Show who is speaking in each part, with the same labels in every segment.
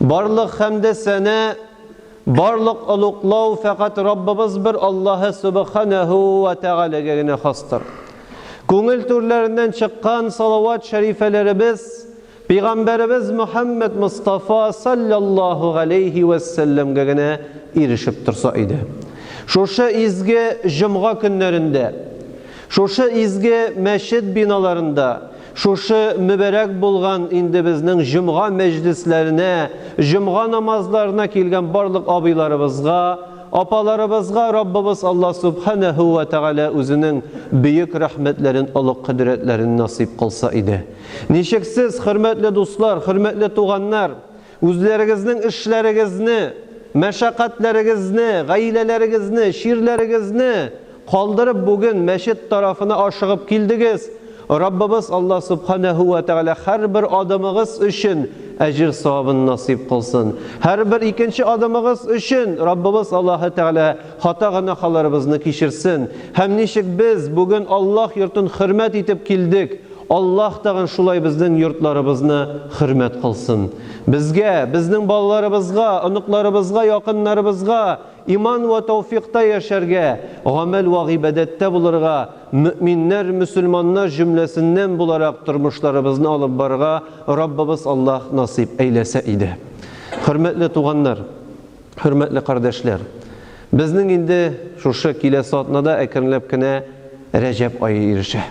Speaker 1: Барлык хәмде сәна, барлык олуглау фәкать Раббыбыз бер Аллаһы Сөбханәһү вә Тәгаләгә генә хастыр. Күңел түрләреннән чыккан салават шәрифәләребез Пигамбәребез Мөхәммәд Мостафа салләллаһу галәйһи вә сәлләмгә генә ирешеп торса иде. Шушы изге җомга көннәрендә, шушы изге мәчет биналарында, Шушы мөбарәк булган инде безнең җомга мәҗлесләренә, җомга намазларына килгән барлык абыйларыбызга, апаларыбызга Раббыбыз Алла Сүбхәнәһү вә Тәгалә үзенең бөек рәхмәтләрен, олуг кодрәтләрен насыйп кылса иде. Ничексез, хөрмәтле дуслар, хөрмәтле туганнар! Үзләрегезнең эшләрегезне, мәшәкатьләрегезне, гаиләләрегезне, чирләрегезне калдырып бүген мәчет тарафына ашыгып килдегез, Раббыбыз Аллаһ Сүбхәнәһү вә Тәгалә һәрбер адымыгыз өчен әҗер-савабын насыйп кылсын. Һәрбер икенче адымыгыз өчен Раббыбыз Аллаһы Тәгалә Хата гөнаһаларыбызны кичерсен. Һәм ничек без бүген Аллаһ йортын хөрмәт итеп килдек, Аллаһ тагын шулай безнең йортларыбызны хөрмәт кылсын. Безгә, безнең балаларыбызга, оныкларыбызга, якыннарыбызга иман вә тәүфикъта яшәргә, гамәл вә гыйбадәттә булырга, мөэминнәр, мөселманнар җөмләсеннән буларак тормышларыбызны алып барырга Раббыбыз Аллаһ насыйп әйләсә иде. Хөрмәтле туганнар! Хөрмәтле кардәшләр! Безнең инде шушы киләсе атнада әкренләп кенә Рәҗәб ае ирешә.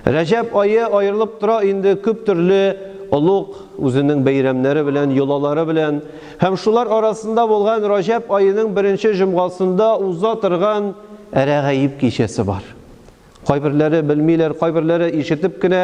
Speaker 1: Рәҗәб ае аерылып тора инде күп төрле олуг, үзенең бәйрәмнәре белән, йолалары белән. Һәм шулар арасында булган Рәҗәб аеның беренче җомгасында уза торган Әрәгаиб кичәсе бар. Кайберләре белмиләр, кайберләре ишетеп кенә,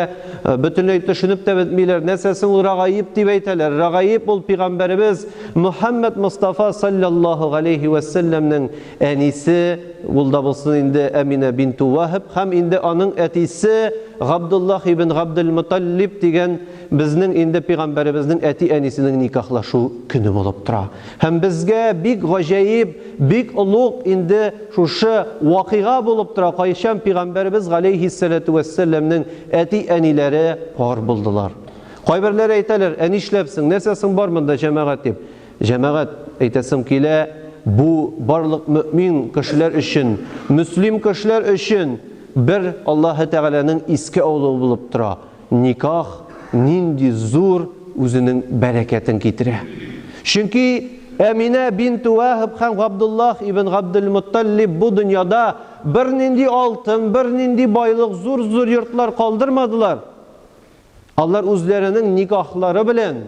Speaker 1: бөтенләй төшенеп тә бетмиләр. Нәрсә соң ул рагаиб дип әйтәләр? Рагаиб ул пигамбәребез Мөхәммәд Мостафа салләллаһу галәйһи вә сәлләмнең әнисе, ул да булсын инде Әминә бинту Ваһб һәм инде аның әтисе Габдуллаһ ибн Габдел Моталлиб дигән безнең инде пигамбәребезнең әти-әнисенең никахлашу көне булып тора. Һәм безгә бик гаҗәиб Бик олуг инде шушы вакыйга булып тора, кайчан пигамбәребез галәйһиссәләтү вәссәләмнең әти-әниләре пар булдылар. Кайберләре әйтәләр, ә нишләпсең, нәрсә соң бар монда җәмәгать дип. Җәмәгать, әйтәсем килә, бу барлык мөэмин кешеләр өчен, мөслим кешеләр өчен бер Аллаһы Тәгаләнең искә алуы булып тора. Никах нинди зур үзенең бәрәкәтен китерә. Чөнки Әминә бинту Вәһб һәм Габдуллаһ ибн Габделмөттәллиб бу дөньяда бернинди алтын, бернинди байлык, зур-зур йортлар калдырмадылар. Алар үзләренең никахлары белән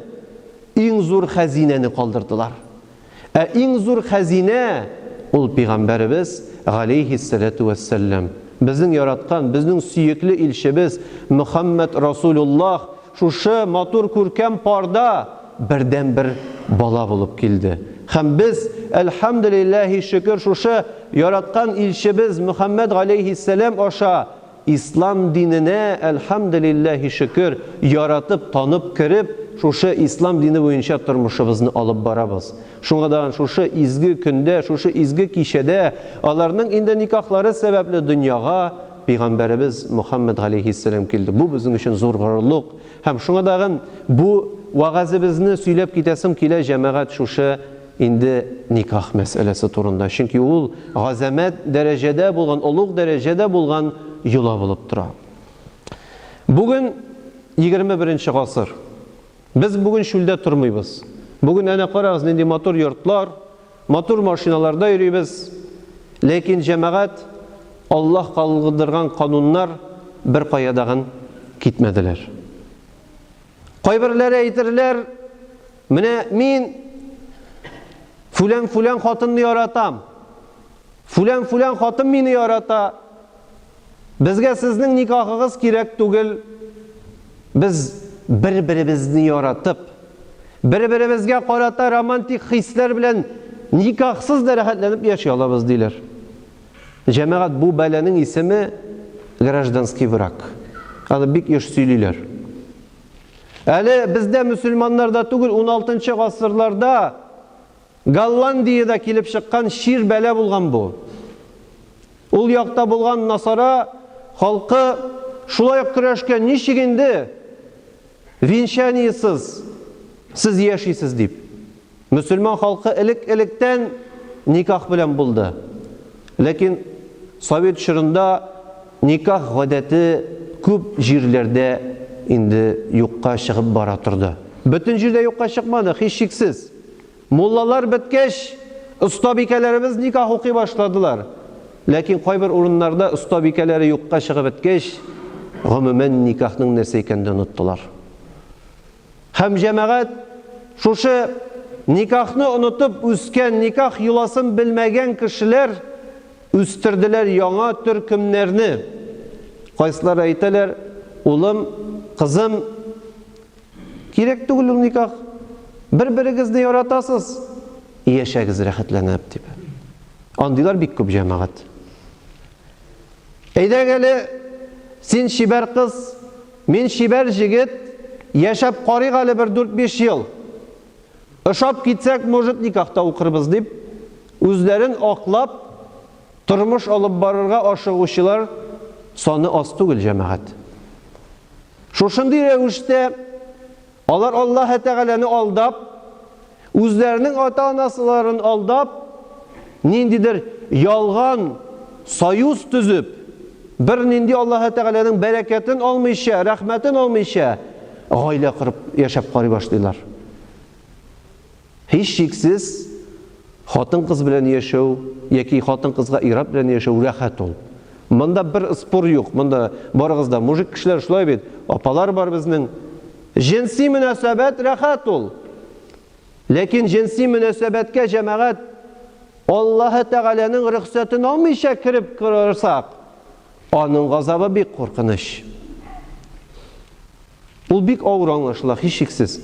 Speaker 1: иң зур хәзинәне калдырдылар. Ә иң зур хәзинә, ул пигамбәребез, галәйһиссәләтү вәссәлләм. Безнең яраткан, безнең сөекле илчебез Мөхәммәд Расулуллаһ шушы матур күркәм парда бердәнбер бала булып килде. Һәм без, әлхәмдүлилләһи шөкер, шушы яраткан илчебез Мөхәммәд галәйһиссәләм аша, Ислам диненә, әлхәмделилләһи шөкер, яратып, танып кереп, шушы Ислам дине буенча тормышыбызны алып барабыз. Шуңа да шушы изге көндә, шушы изге кичәдә аларның инде никахлары сәбәпле дөньяга Пәйгамбәребез Мөхәммәд галәйһиссәлам килде. Бу безнең өчен зур горурлык. Һәм шуңа да бу вәгазебезне сөйләп китәсем килә, җәмәгать шушы Инде никах мәсьәләсе турында, чөнки ул газәмәт дәрәҗәдә булган, олуг дәрәҗәдә булган йола булып тора. Бүген егерме беренче гасыр. Без бүген чүлдә тормыйбыз. Бүген әнә карагыз, нинди матур йортлар, матур машиналарда йөрибез. Ләкин, җәмәгать, Аллаһ калгдырган кануннар беркая дагын китмәделәр. Кайберләре әйтерләр, менә мин фүлән-фүлән хатынны яратам. Фүлән-фүлән хатын мине ярата. Безгә сезнең никахыгыз кирәк түгел. Без бер-беребезне яратып, бер-беребезгә карата романтик хисләр белән никахсыз да рәхәтләнеп яши алабыз, диләр. Җәмәгать бу бәланең исеме гражданский враг. Аны бик еш сөйлиләр. Әле бездә мөселманнарда түгел 16 нчы гасырларда Голландиядә килеп чыккан чир бәла булган бу. Ул якта булган насара халкы шулай ук көрәшкән ничек инде венчаниесыз сез яшисез дип. Мөселман халкы элек-электән никах белән булды. Ләкин совет чорында никах гадәте күп җирләрдә инде юкка чыгып бара торды. Бөтен җирдә юкка чыкмады, һичшиксез. Муллалар беткәч, остабикәләребез никах укый башладылар. Ләкин кайбер урыннарда остабикәләре юкка чыгып беткәч, гомумән никахның нәрсә икәнен дә оныттылар. Һәм җәмәгать, шушы никахны онытып үскән, никах йоласын белмәгән кешеләр үстерделәр яңа төркемнәрне. Кайсылары әйтәләр, улым, кызым, кирәк түгел ул никах, бер-берегезне яратасыз, яшәгез рәхәтләнеп, дип. Андыйлар бик күп җәмәгать. Әйдәң әле, син чибәр кыз, мин чибәр җегет, яшәп карыйк әле бер дүрт-биш ел. Ошап китсәк, может, никахта укырбыз, дип, үзләрен аклап, тормыш алып барырга ашыгучылар саны аз түгел, җәмәгать. Шушындый рәвештә алар Аллаһы Тәгаләне алдап, Үзләренең ата-анасыларын алдап, ниндидер ялган союз төзеп, бернинди Аллаһы Тәгаләнең бәрәкәтен алмыйча, рәхмәтен алмыйча, гаилә корып яшәп карый башлыйлар. Һич шиксез, хатын-кыз белән яшәү яки хатын-кызга ират белән яшәү рәхәт ул. Монда бер спор юк, монда барыгыз да мужик кешеләр шулай бит, апалар бар безнең. Җенси мөнәсәбәт рәхәт ул. Ләкин җенси мөнәсәбәткә җәмәгать Аллаһы Тәгаләнең рөхсәтен алмыйча кереп корырсак, аның газабы бик куркыныч. Ул бик авыр аңлашыла, һичшиксез.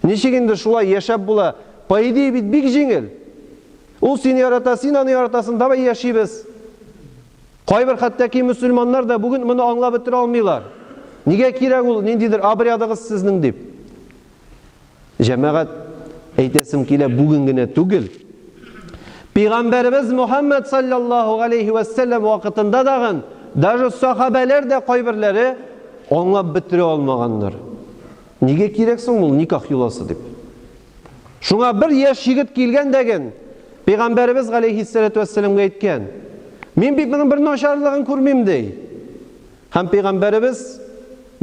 Speaker 1: Ничек инде шулай яшәп була? По идее бит бик җиңел. Ул сине ярата, син аны яратасың, давай яшибез. Кайбер хәтта ки мөселманнар да бүген моны аңлап бетерә алмыйлар. Нигә кирәк ул ниндидер обрядыгыз сезнең дип. Җәмәгать әйтәсем килә бүген генә түгел. Пәйгамбәребез Мухаммад саллаллаһу алейхи ва саллям вакытында дагы даже сахабәләр дә кайберләре аңлап бетерә алмаганнар. Нигә кирәк соң ул никах йоласы дип? Шуңа бер яшь егет килгән дәген Пәйгамбәребез галәйһиссәләтү вәссәламгә әйткән, Мин бит моның бер начарлыгын күрмим, ди. Һәм Пәйгамбәребез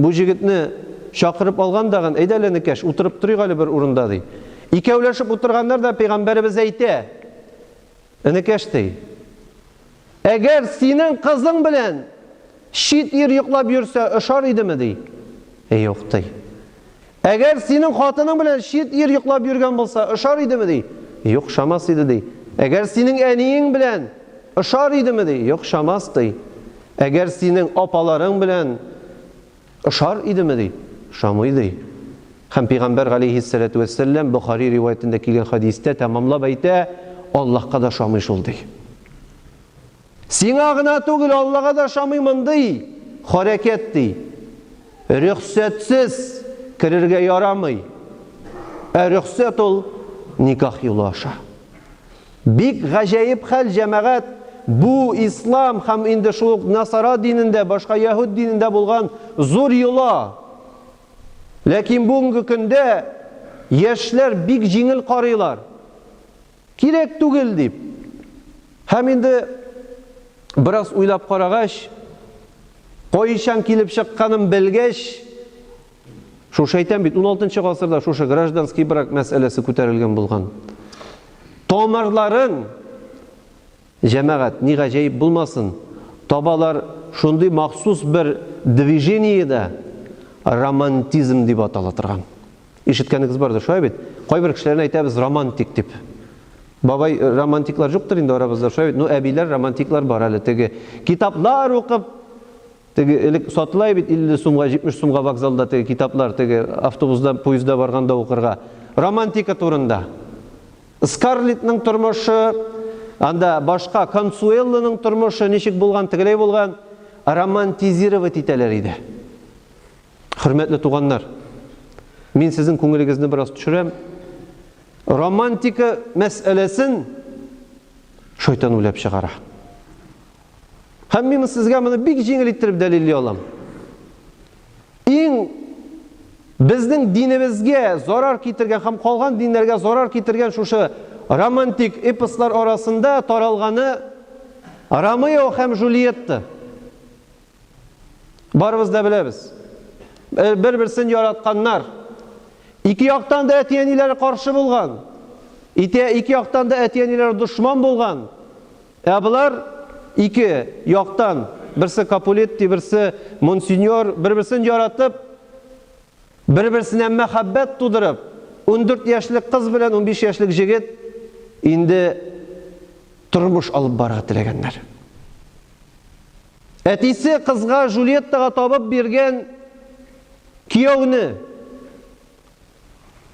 Speaker 1: бу җегетне чакырып алган дагын, Әйдә әле, энекәш, утырып торыйк әле бер урында, ди. Икәүләшеп утырганнар да Пәйгамбәребез әйтә, Энекәш, ди, Әгәр синең кызың белән чит ир йоклап йөрсә, ошар идеме? ди. Юк, ди. Әгәр синең хатының белән чит ир йоклап йөргән булса, ошар идеме? ди. Юк, ошамас иде, ди. Әгәр синең әниең белән ошар идеме? ди. Юк, ошамас, ди. Әгәр синең апаларың белән Ошар идеме? ди. Ошамый, ди. Һәм пәйгамбәр галәйһиссәләтү вәссәлләм Бохари риваятендә килгән хәдистә тәмамлап әйтә, Аллаһка да ошамый шул, ди. Сиңа гына түгел, Аллага да ошамый мондый харәкәт, ди. Рөхсәтсез керергә ярамый. Ә рөхсәт ул никах юлы аша. Бик гаҗәеп хәл, җәмәгать, бу ислам һәм инде шул ук насара динендә, башка яһүд динендә булган зур йола. Ләкин бүгенге көндә яшьләр бик җиңел карыйлар. Кирәк түгел дип. Һәм инде бераз уйлап карагач, кайчан килеп чыкканын белгәч, Шушы әйтәм бит, 16 гасырда шушы гражданский брак мәсьәләсе күтәрелгән булган. Тамырларын җәмәгать ни гаҗәеп булмасын, табалар шундый махсус бер движениедә романтизм дип атала торган. Ишеткәнегез бардыр, шулай бит? Кайбер кешеләрне әйтәбез романтик дип. Бабай э, романтиклар юктыр инде арабызда, шулай бит? Ну, әбиләр романтиклар бар әле теге. Китаплар укып, Теге элек сатыла бит 50 сумга, 70 сумга вокзалда теге китаплар, теге автобузда, поезда барганда укырга. Романтика турында. Скарлетның тормышы, анда башка Консуэллоның тормышы ничек булган, тегеләй булган, романтизировать итәләр иде. Хөрмәтле туганнар, мин сезнең күңелегезне бераз төшерәм. Романтика мәсьәләсен шайтан уйлап чыгара. Һәм мин сезгә моны бик җиңел иттереп дәлилли алам. Иң безнең динебезгә зарар китергән һәм калган диннәргә зарар китергән шушы романтик эпослар арасында таралганы Ромео һәм Жюльетта. Барыбыз да беләбез. Э, бер-берсен яратканнар. Ике яктан да әти-әниләре каршы булган. Ике яктан да әти-әниләре дошман булган. Ә болар ике яктан, берсе Капулетти, берсе Монсеньор, бер-берсен яратып, бер-берсенә мәхәббәт тудырып, ундүрт яшьлек кыз белән унбиш яшьлек җегет инде тормыш алып барырга теләгәннәр. Әтисе кызга Жюльеттага табып биргән кияүне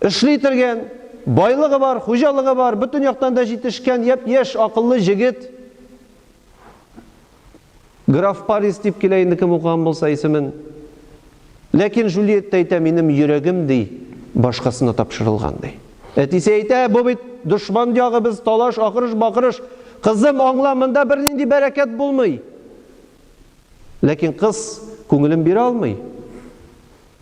Speaker 1: Эшли торган, байлыгы бар, хуҗалыгы бар, бөтен яктан да җитешкән, япь-яшь, акыллы җегет. Граф Парис дип килә инде кем укыган булса исемен. Ләкин Жюльетта әйтә, минем йөрәгем ди, башкасына тапшырылган ди. Әтисе әйтә, бу бит дошман ягы, без талаш, акырыш, бакырыш. Кызым, аңла, монда бернинди бәрәкәт булмый. Ләкин кыз күңелен бирә алмый.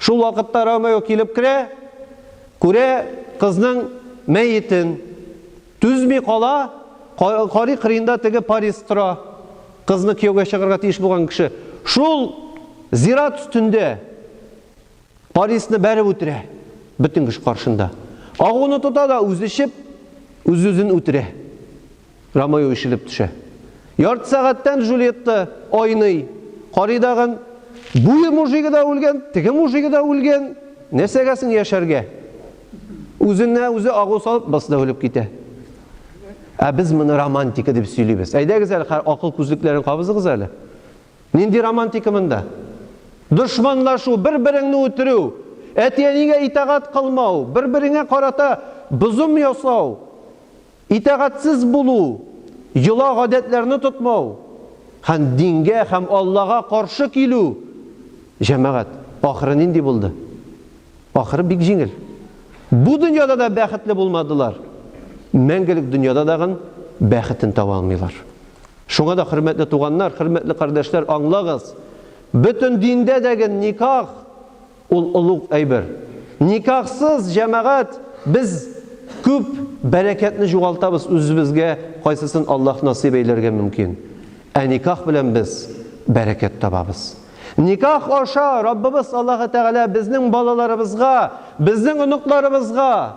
Speaker 1: Шул вакытта Ромео килеп керә, күрә кызның мәетен. Түзми кала, карый кырыенда теге Парис тора, кызны кияүгә чыгарга тиеш булган кеше. Шул зират өстендә Парисны бәреп үтерә, бөтен кеше каршында. Агуны тота да үзе эчеп, үз-үзен үтерә. Ромео ишелеп төшә. Ярты сәгатьтән Жюльетта айный. Карый дагын, буе мужигы да үлгән, теге мужигы да үлгән. Нәрсәгә соң яшәргә? Үзенә үзе агу салып, басы да үлеп китә. Ә без моны романтика дип сөйлибез. Әйдәгез әле, акыл күзлекләрен кабызыгыз әле. Нинди романтика монда? Дошманлашу, бер-береңне үтерү, әти-әнигә итагать кылмау, бер-береңә карата бозым ясау. Итагатьсез булу, йола гадәтләрне тотмау һәм дингә һәм Аллага каршы килү, җәмәгать, ахыры нинди булды? Ахыры бик җиңел. Бу дөньяда да бәхетле булмадылар, мәңгелек дөньяда дагын бәхетен таба алмыйлар. Шуңа да, хөрмәтле туганнар, хөрмәтле кардәшләр, аңлагыз, бөтен диндә дәген никах Ул олуг әйбер. Никахсыз җәмәгать без күп бәрәкәтне җугалтабыз, үзебезгә кайсысын Аллаһ насыйп әйләргә мөмкин. Ә никах белән без бәрәкәт табабыз. Никах аша Раббыбыз Аллаһы Тәгалә безнең балаларыбызга, безнең оныкларыбызга,